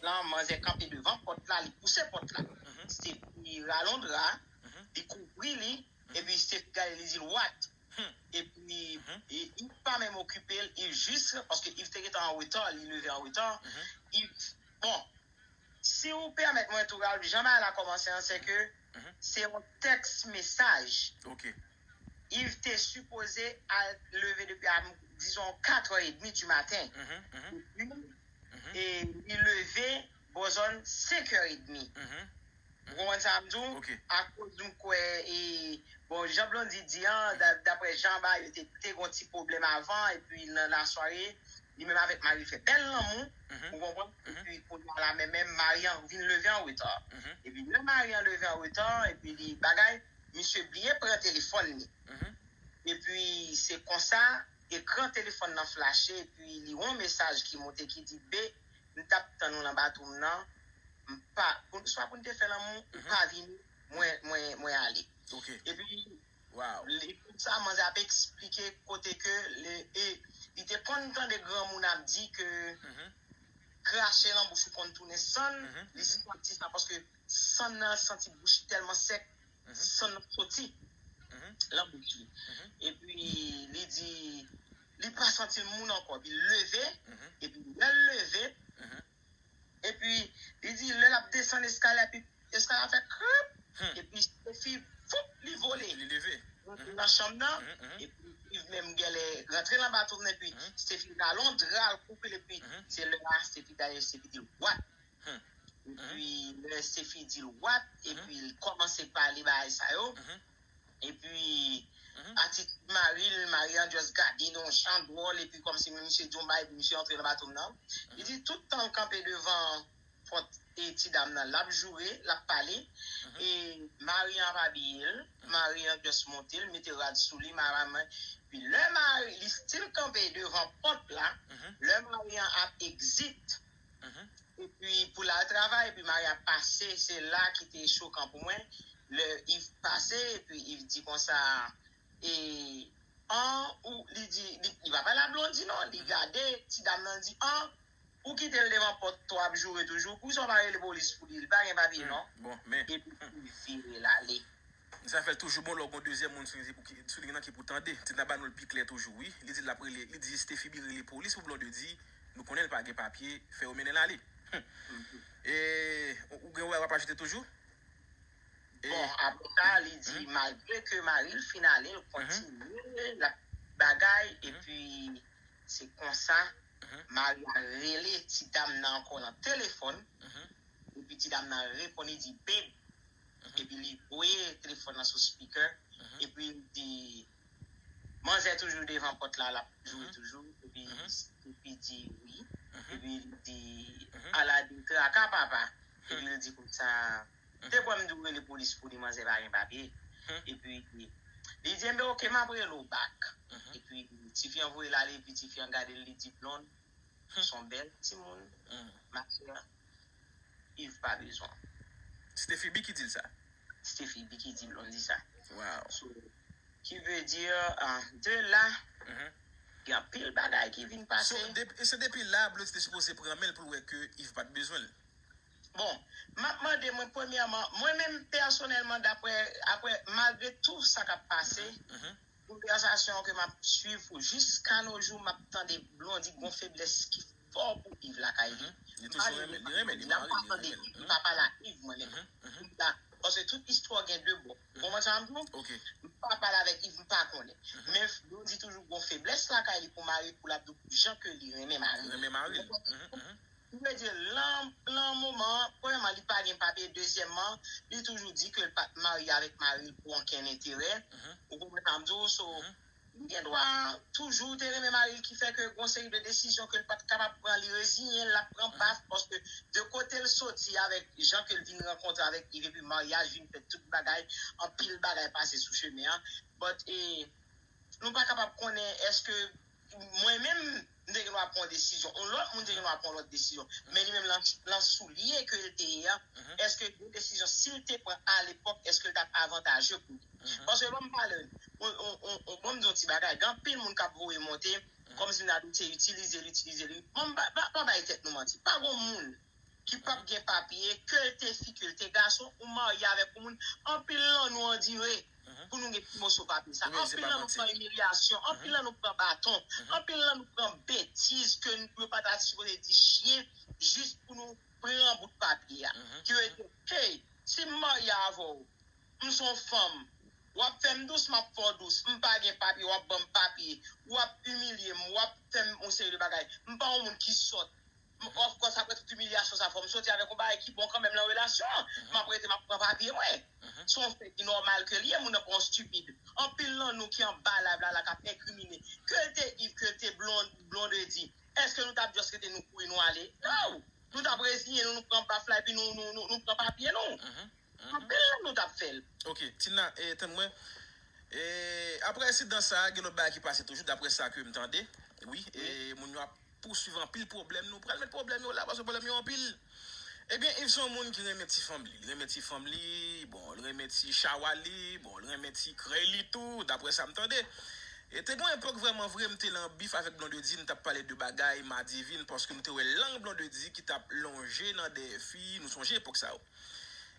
Lan manzè kanpe devan pòt la li pouse pòt la Stefi ralon dra li kouvri li epi Stefi gade li dil what epi Iv pa menm okipel Iv jis paske Iv te gentan an reta li leve an reta Iv bon siw pèmèt mwen tou Ralph jan bagay la kòmanse an sèke se yon tèks mesaj Yv te sipoze al leve depi a dizon 4 è edmi di maten e li leve bò zòn 5 è edmi ou konprann sa m di w akoz m kwè e bon jan Blondy di an daprè jan ba yo te gen yon ti pwoblèm avan epi nan lasware li menm avèk mari l fè bèl lanmou ou konprann epi kounya la menm Maryan vin leve an reta epi lè Maryan leve an reta epi li bagay Misye byen pran telefòn li. Epi se konsa ekran telefòn nan flache epi li wè yon mesaj ki moute ki di, Be, m t ap tann ou nan bato m nan, m pa, swa pou n te fè lanmou, ou pa vini, mwen, mwen ale. Epi, li konsa manzè ap eksplike kote ke le, e, li te konn tande granmoun ap di ke krache lan bouch ou konn tounen sann, li santi sa paske. San nan santi bouch li tèlman sèk, san nan soti lan bouch li. Epi li di, li pa santi l moun ankò. Epi l leve, epi lè l leve, epi li di lè l ap desann eskalye a, epi eskalye a fè krip, epi Sofi, foup, li vole. Li leve. Rantre nan chanm nan, epi Iv menm genlè rantre lan ba tou vre, epi Stefi ralon dra l, koupe l, epi se lè a Stefi gaye, Stefi di l, What? Humm epi lè Stephie di l what epi l kòmanse pale bagay sa yo epi atitid mari l mari an just gade l yon jan dwòl epi kòmsi misye di yon bagay epi misye antre nan bato m nan li di tout tan l kanpe devan pòt ti dam nan l ap joure l ap pale e mari an ap abiye l mari an just monte l mete rad sou li epi lè mari li still kanpe devan pòt la lè mari an ap exit. epi pou l al travay epi mari a pase se la ki te chokan pou mwen lè Iv pase epi Iv di konsa e an ou li di li pa pale a Blondy non li gade ti dam nan li di an ou kite l devan pòt to ap joure toujou poukisa ou pa rele polis pou li li pa gen papye non epi li vire l ale. Zafè toujou bon lè w gon dezyèm moun sou liy nan ki pou tande. Tina ba nou l pi klè toujou wi. Li di l l ap rele, li di Estefibi rele polis pou Blonde di, nou konnen l pa gen papye, fè yo mennen l ale. Humm. E ou gen wè w ap ajoute toujou? Bon, apre sa, li di malgre ke mari l fin ale, l kontinye, l ap bagay, epi se konsa mari a rele ti dam nan ankò nan telefòn, epi ti dam nan reponn li di, Beb, Epi li voye telefòn nan sou speaker epi li di manzè toujou devan pòt la lap jwe toujou epi Snoopy di wi epi li di Aladin traka papa epi li di konsa te kwè mdi w rele polis pou li manzè pa gen papye epi li di enben ok map rele w back epi tifi an voye l ale epi tifi an gade l li di Blond Son bel timoun ma soeur Yves pa bezwen. Ste fibi ki dil sa. Ste fibi ki di blondy sa. Waw. So ki ve dir de la gen anpil bagay ki vin pase. So depi la blondy te sipoze pran menl poul wè ke Yves pat bezwenl. Bon map mande mwen premyèman mwen menm pèsonèlman daprè aprè malgre tou sa kap pase. Konvèsasyon ke map swiv pou jiska no jou map tande Blondy gon feblès ki fò pou Yves lakay li mari li pa li la mpa tande li pa pale ak Yves mwen menm paske tout istwa gen 2 bò ou konprann sa map diw mpa pale avèk Yves mpa konnen men Blondy toujou gon feblès lakay li pou mari poul ap di w jan ke li renmen mari li ou konprann Li vle di lan lan moman an, premyèman li pa gen papye, dezyèmman li toujou di ke l pat marye avèk mari l pou ankenn enterè, ou konprann sa m di w, so li gen dwa toujou te renmen mari l ki fè ke gon seri de desizyon ke l pat kapab pran li reziyen l, l ap pran baf paske de kote l soti avèk jan ke l vin rankontre avèk Yve epi maryaj vin fèt tout bagay, anpil bagay pase sou chemen an, but e nou pa kapab konnen èske. Mwen menm, m te gen dwa pran yon desizyon. Yon lòt moun te gen dwa pran yon lòt desizyon. Men li menm, nan soulye ke l te ye a, èske yon desizyon, si l te pran alepòk, èske l t ap avantaje pou li? Paske ban m pale, ban m di yon ti bagay, gen anpil moun k ap voye monte, kòmsi m ta di, se itilize l, itilize l. Ban m, pa bay tèt nou manti. Pa gen yon moun ki pap gen papye ke'l te fi ke'l te gason ou marye avèk yon moun anpil nan nou andire pou nou gen ti moso papye sa anpil nan nou pran imilyasyon anpil nan nou pran baton anpil nan nou pran betiz ke yo pa ta sipoze di chyen jis pou nou pran bout papye a ki vle di hey si m marye avè'w m son fanm wap fèm dous map fè'w dous m pa gen papye wap banm papye wap imilye m wap fèm yon seri de bagay m pa yon moun ki sòt. M of course aprè tout imilyasyon sa fò m soti avèk yon bagay ki bon kanmenm lan relasyon an. M ap rete m ap pran papye mwen. Se yon fè ki nòmal ke l ye moun nan pa yon stupid. Anpil lan nou ki anba live la la k ap enkrimine. Ke l te Yves, ke l te Blondedy, eske nou t ap just rete nou kouri nou ale? No! Nou t ap reziyen nou, nou pran baf la epi nou pran papye nou. Anpil lan nou t ap fè l. Ok, Tina, tann mwen. Aprè ensidan sa, gen lòt bagay ki pase toujou daprè sa ke m tande. Wi, e moun yo ap. pousuiv anpil pwoblèm nou pral met pwoblèm yo la paske pwoblèm yo anpil ebyen iv son moun ki renmen ti fanm li li renmen ti fanm li bon li renmen ti chawa li bon li renmen ti krèy li tou daprè sam tande e te gon epòk vrèman vre m te lan bif avèk blondedy nou tap pale de bagay madivin paske nou te wè lang blondedy ki tap lonje nan dèyè fi nou sonje epòk sa yo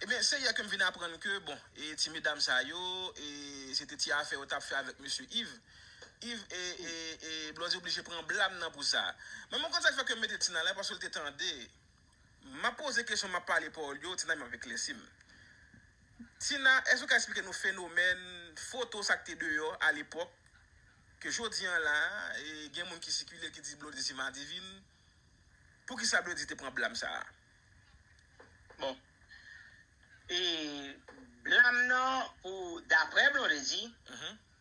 ebyen se yè kem vin aprann ke bon e ti medam sa yo e se te ti afè yo tap fè avèk mesye iv. Yves e e e Blondie oblije pran blam nan pou sa. Mwen mwen konn sak fè ke mete Tina la paske l te tande map poze kesyon map pale pawòl yo Tina menm ap eklèsi m. Tina èske ou ka esplike nou fenomèn foto sak te deyò a lepòk ke jodi an la gen moun ki sikile ki di Blondie se madivin poukisa Blondie te pran blam sa a? Bon e blam nan pou daprè Blondedy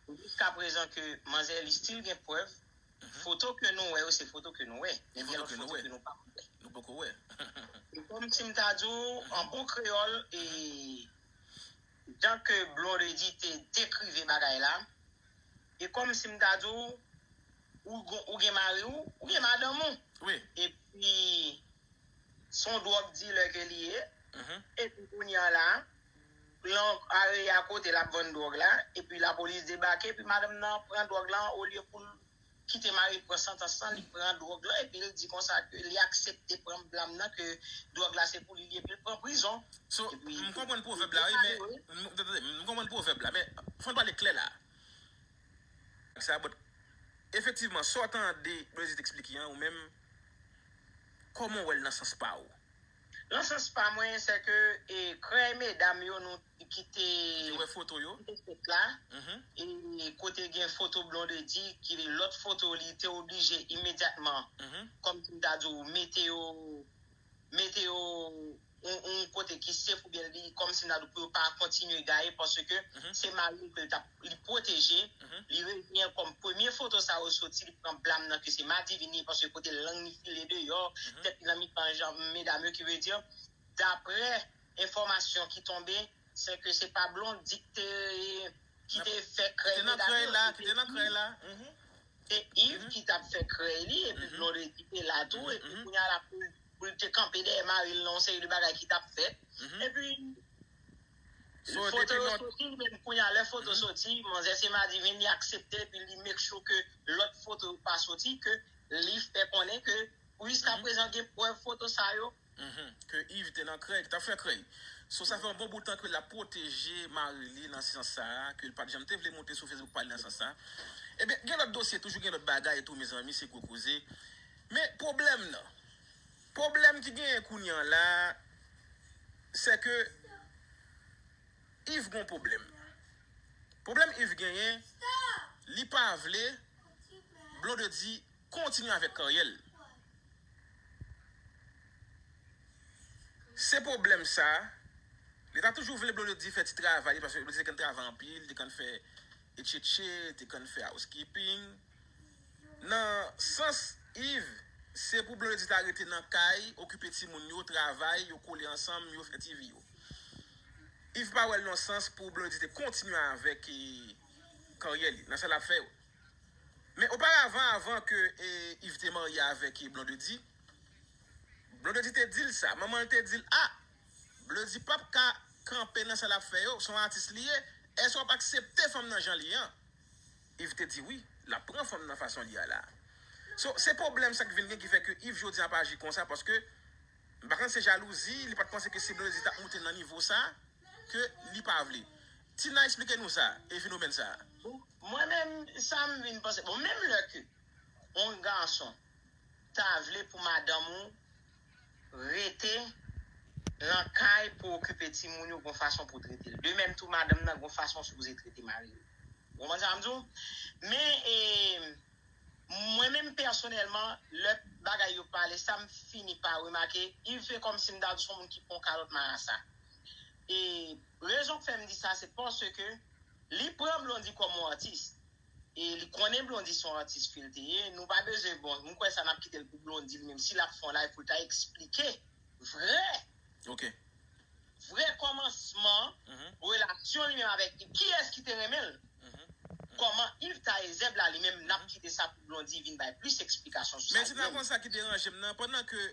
Se jiska prezan ke manzè li stil gen prèv, foto ke nou wè yo se foto ke nou wè, men gen lòt foto ke nou pa wè. Nou poko wè. Se kòm si m ta di w an bon kreyòl e jan ke Blondedy te dekrive bagay la, e kòm si m ta di w, ou gen mari w, ou gen madanm ou. Wi. Epi, se yon dwòg dilè ke li ye, epi kounye an la, Blan pare a kote l ap vann dwòg la, epi lapolis debake, epi madanm nan pran dwòg la, olye pou l kite mari l pran santans lan, li pran dwòg lan, epi l di konsa ke li aksepte pran blam nan, ke dwòg la se pou li li, epi l pran prizon. So, m konprann pwovèb la wi, men, tande, m konprann pwovèb la, men, fò n pale klè la a. Sa bòt. Efektivman, sa w tande Blaze te eksplike an, ou menm, kòman w wè l nan sans pa ou? Nan sans pa mwen sè ke krèy medam yo nou ki te wè foto yo ki te fèt la e kote gen foto Blondedy ki lòt foto li te oblije imedyatman kòm si m ta di w mete yo mete yo yon kote ki sef oubyen li kòm si m ta di w pou yo pa kontinye gaye paske se mari l ke l t ap li pwoteje, li reziyen kòm premye foto sa yo soti li pran blam nan ke se Madivini paske kote lang li file deyò, tèt li nan mitan janm medam yo ki vle di daprè enfòmasyon ki tonbe se ke se pa Blondy ki te ki te fè krèy medam yo, se Yves se Yves ki tap fè krèy li epi Blondy te la tou epi kounya la pou l te kanpe dèyè mari l nan yon seri de bagay ki tap fèt epi Foto yo soti menm kounya lè foto soti manzè se madivin li aksepte epi li make sure ke lòt foto yo pa soti ke li fè konnen ke pou jiska prezan gen prèv foto sa yo ke Yves te nan krèy, tap fè krèy so sa fè yon bon bout tan ke lap pwoteje mari li nan sans sa ke li pat janm te vle moute sou Facebook pa li nan sans sa ebyen gen lòt dosye toujou gen lòt bagay tou mezanmi se gwo koze men pwoblèm nan. Pwoblèm ki genyen kounye an la a, sè ke Yves gon pwoblèm. Pwoblèm Yves genyen, li pa vle Blondedy kontinye avèk karyè l. Se pwoblèm sa, li ta toujou vle Blondedy fè ti travay li paske Blondedy te konn travay anpil, li te konn fè etchetche, li te konn fè housekeeping. Nan sans Yves, se pou Blondedy ta rete nan kay, okipe timoun yo, travay, yo kole ansanm, yo fè ti vi yo. Yves pa wè l yon sans pou Blondedy te kontinye avèk karyè li, nan sa l ap fè yo. Men oparavan avan ke Yves te marye avèk Blondedy, Blondedy te di l sa, manman l te di l a, Bleudy pap ka kanpe nan sa l ap fè yo, se yon atis li ye, èske w ap aksepte fanm nan jan l ye an? Yves te di wi lap pran fanm nan fason li a la. So se pwoblèm sak vin gen ki fè ke Yves jodi an ap aji konsa paske m pa konn se jalouzi li pat panse ke si Blondedy tap moute nan nivo sa ke li pa vle. Tina esplike nou sa e fenomèn sa. Mwen menm sa m vin panse bon menm lè ke yon gason ta vle pou madanm ou. rete Nan Kay pou okipe timoun yo gon fason pou tretel de mèm tou madanm Nan gon fason ou sipoze trete maril ou konprann sa map diw men mwen menm pèsonèlman lè bagay yo pale sa m fini pa remake yv se kòmsi m ta di son moun ki pran kalòt marasa rezon k fèm di sa se paske li pran blondy kòm yon atis. E li konnen Blondy son atis fil te ye, nou pa bezwen bon m kwè sa nap kitel pou Blondy li menm si lap fè yon live poul ta eksplike vrè ok vrè kòmansman relasyon li menm avèk Yve kiyès ki te renmenl kòman Yve ta ye zèb la li menm nap kite sa pou Blondy vin bay plis eksplikasyon sou sa li menm. Mèsi Nakonn sa ki deranjem nan pandan ke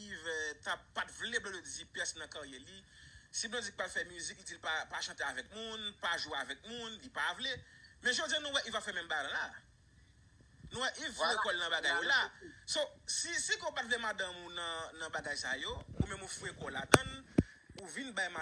Yve ta pat vle Blondy di pyès nan karyè li si Blondy t pral fè mizik li dil pa chante avèk moun pa jwe avèk moun li pa vle. Men jodya nou wè Yves ap fè menm bagay lan la. Nou wè Yves foure kòl nan bagay yo la. So, si Siko pat vle madanm ou nan bagay sa yo, ou menm ou foure kòw ladann, ou vin bay madanm.